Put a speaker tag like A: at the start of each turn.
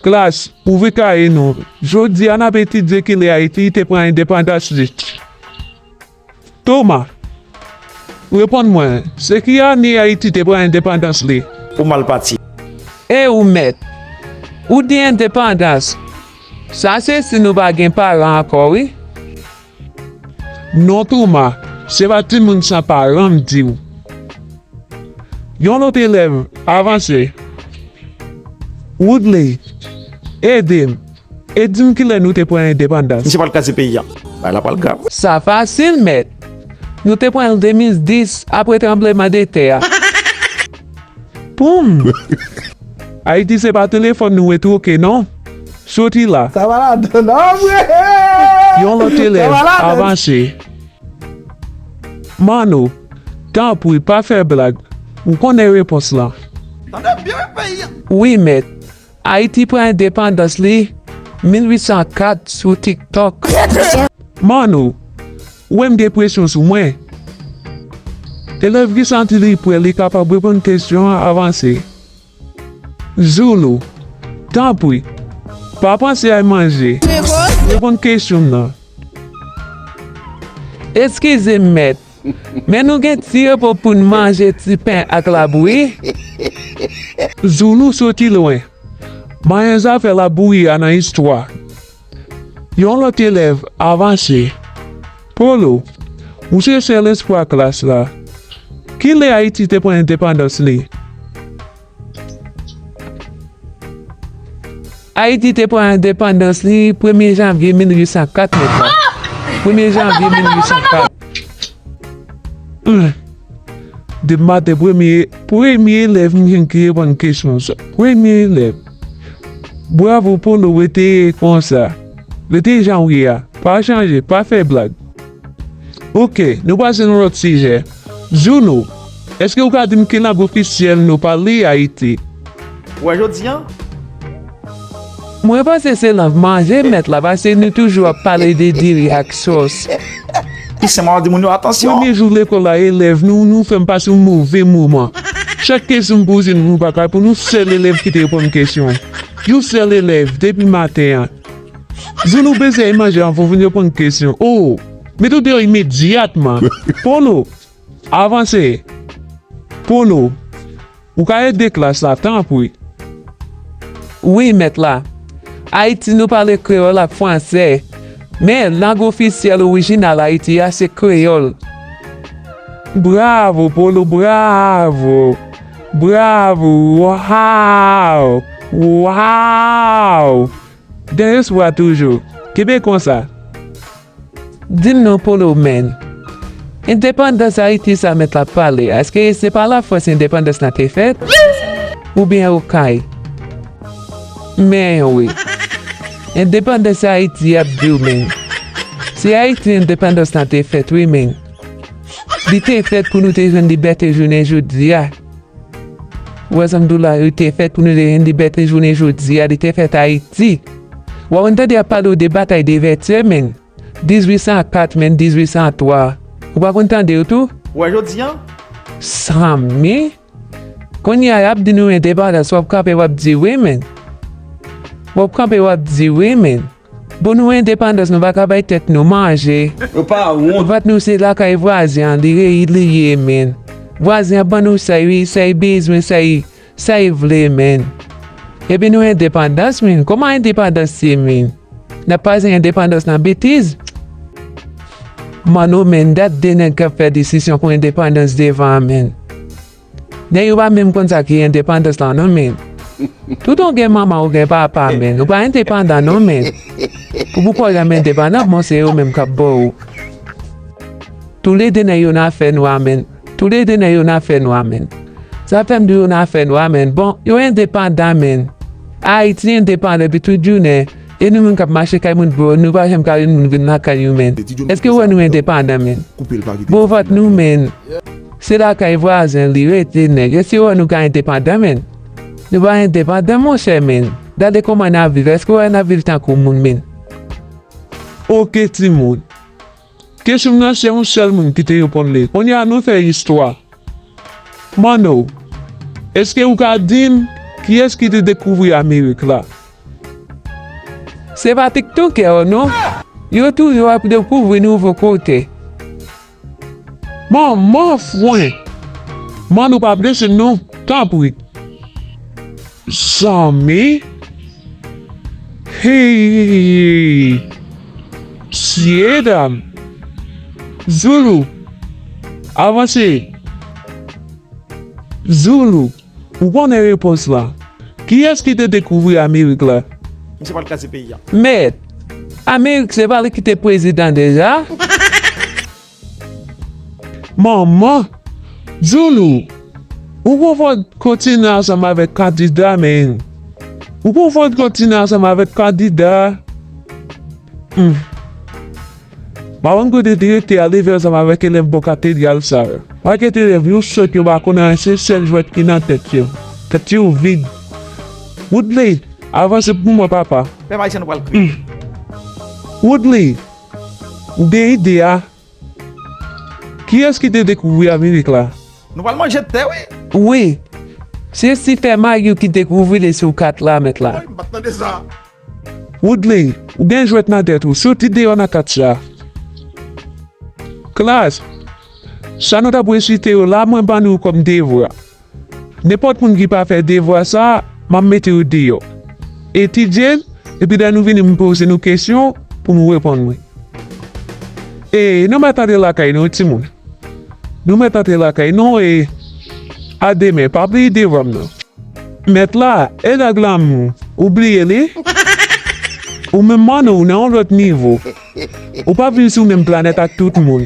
A: Klas, ouvri kaye nou. Jodi a, n ap etidye ki lè Ayiti te pran endepandas li. Toma, reponn mwen, se ki ane Ayiti te pran endepandans li? Ou mal pati.
B: E ou
C: mèt? Ou di endepandans? Sa se si nou pa gen paran ankò wi. Non
A: Toma, se pa timoun sa paran m di w. Yon lòt elèv avanse. Woodley, ede m, e di m ki lè nou te pran endepandans. Misye pral kraze peyi a.
B: Bagay la pral grav. Sa fasil
C: mèt. Nou te pran l 2010 apre tranbleman de tè a. poum.
A: Ayiti se pa telefòn nou we twoke non. Soti la. Sa va ladann
D: anmwee. Yon lòt
A: elèv avanse. Manno, tanpri pa fè blag. Ou konnen repons lan. Tande byen peyi a. Wi
C: mèt. Ayiti pran endepandans li 1804 sou tiktok. Manou,
A: ou wè m gen presyon sou mwen? Elèv ki santi li prè li kapab reponn kesyon an avanse. Zulu, Tanpri, pa panse a manje, reponn kesyon m nan.
C: Eskize m mèt, Men nou gen tirbo pou n manje ti pen ak labouyi.
A: Zoulou soti lwen. Manyen zafè labouyi a nan istwa. Yon lòt elèv avanse. Polo, ou se sèl espwa klas la. Ki lè Ayiti te pran endepandans li?
C: Ayiti te pran endepandans li premye janvye 1804 nèt la. Premye janvye 1804.
A: Depi maten premye, premye elèv m jwenn ki reponn kesyon an sa. Premye elèv. Bravo Polo rete konsa. Rete jan w ye a. Pa chanje, pa fè blag. Ok, nou pase nan lòt sijè. Juno, eske ou ka di m ki lang ofisyèl nou pale Ayiti? Ou wè jodi
B: an?
C: Mwen panse se lang manje mèt la pase nou toujou ap pale de diri ak sòs. Toussaint
B: Mao di moun yo atansyon. Premye jou lekòl la
A: elèv nou nou fè m pase yon move moman. Chak kesyon m poze nou nou pa ka reponn yon sèl elèv ki te reponn kesyon an. Yon sèl elèv depi maten an. Zulu bese a imaje an fofun yo pran kesyon ou mete w deyò imedyatman pou nou avanse pou nou ou ka ede klas la tanpri.
C: Wi mèt la. Ayiti nou pale kreyòl ak fransè, men lang ofisyèl orijinal Ayiti a se kreyòl. Bravo
A: pou nou bravo. Bravo waww waww dayos wa toujou kenbe konsa.
C: Dim non polo menn. Endepandans ayiti sa met lap pale eske se pa la france endepandans la te fet ou byen okay men wi endepandans ayiti yap diw menn se ayiti endepandans la te fet wi menn. Li te fèt pou nou te jwenn libète jounen jodi a. Wè zanmi dola yo te fèt pou nou te jwenn libète jounen jodi a. Li te fèt Ayiti. Wè wè tande ap pale ou de batay de vètyè menn. 1804 menn 1803. Ou pa konn tande yo tou? Wè jodi a?
B: Zanmi.
C: Kounye a yap di nou endepandans wap kanpe wap di wi menn. Wap kanpe wap di wi menn. Bon nou endepandans nou paka bay tèt nou manje. Nou pa wont.
B: Vant nou se lakay
C: vwazen an li reyid li ye menn vwazen an ban nou say wi say bezwen say say vle menn epi nou endepandans menn koman endepandans ye menn nap pase endepandans nan betiz manno menn dat de nèg kap fè disisyon pou endepandans devan menn Nèg yo pa menm konn sa ki endepandans lan non men toutan w gen manman ou gen papa men ou pa endepandan non men pou pou kòw janm endepandan bon se yo menm kap baw ou tou le 2 nèg yo nan afè nwa men tou le 2 nèg yo nan afè nwa men sa fèm di yo nan afè nwa men bon yo endepandan men Ayiti endepandan depi tout jounen. E nou menm kap mache kay moun boo nou pa janm ka yon moun vin lakay ou menn eske ou wè nou endepandan menn boo vant nou menn se lakay vwazen li rete nèg eske ou wè nou ka endepandan menn nou pa endepandan monchè menn gade kòman nap viv eske ou wè nap viv tankou moun menn
A: ok timoun. Kesyon m nan se yon sèl moun ki te reponn li. Kounye a nou fè istwa. Manno, èske ou ka di m kiyès ki te dekouvri Amerik la?
C: Se pa tiktokè yo non. Yo toujou ap dekouvri nouvo kote.
A: Manman fwen! Manno pa blese non, tanpri. Zanmi! Heyy! Msyedam! Zoulou! Avanse! Zoulou! Ou konnen repons lan. Kiyès ki te dekouvri Amerik la? Misye pral kraze
B: peyi a. Mèt!
C: Amerik se pa li ki te prezidan deja?
A: Manman! Zoulou! Ou konfonn kontinan ansanm avèk kandida menn! Ou konfonn kontinan ansanm avèk kandida! Hum! Pa konn kote direktè a leve ansanm avèk elèv bò katedral sa yo. Pakèt elèv yo sòt yo pa konn anyen se sèl jwèt ki nan tèt yo. Tèt yo vid. Woodley! Avanse pou mwen papa! Pèp Ayisyen nou pral
B: kriye! Hum!
A: Woodley! Ou gen ide a? Kiyès ki te dekouvri Amerik la? Nou pral manje tè
B: wi. Wi.
C: Se Stephen Mayou ki dekouvri li sou kat la mèt la. Woy, m pa t tande sa.
B: Woodley,
A: ou gen jwèt nan tèt ou. Soti deyò nan kat sa. Klas, sa nou t ap resite yo la mwen ban nou kòm devwa. Nenpòt moun ki pa fè devwa sa a, m ap mete yo deyò. Etidye l, epi lè nou vini m poze nou kesyon pou nou reponn mwen. E nou mèt antre lakay nou timoun. Nou mèt antre lakay nou e a demen pa bliye devwa m nan. Mèt la, e nèg lanmou, ou bliye li? Ou menm Manno ou nan yon lòt nivo. Ou pa vin sou menm planèt ak tout moun.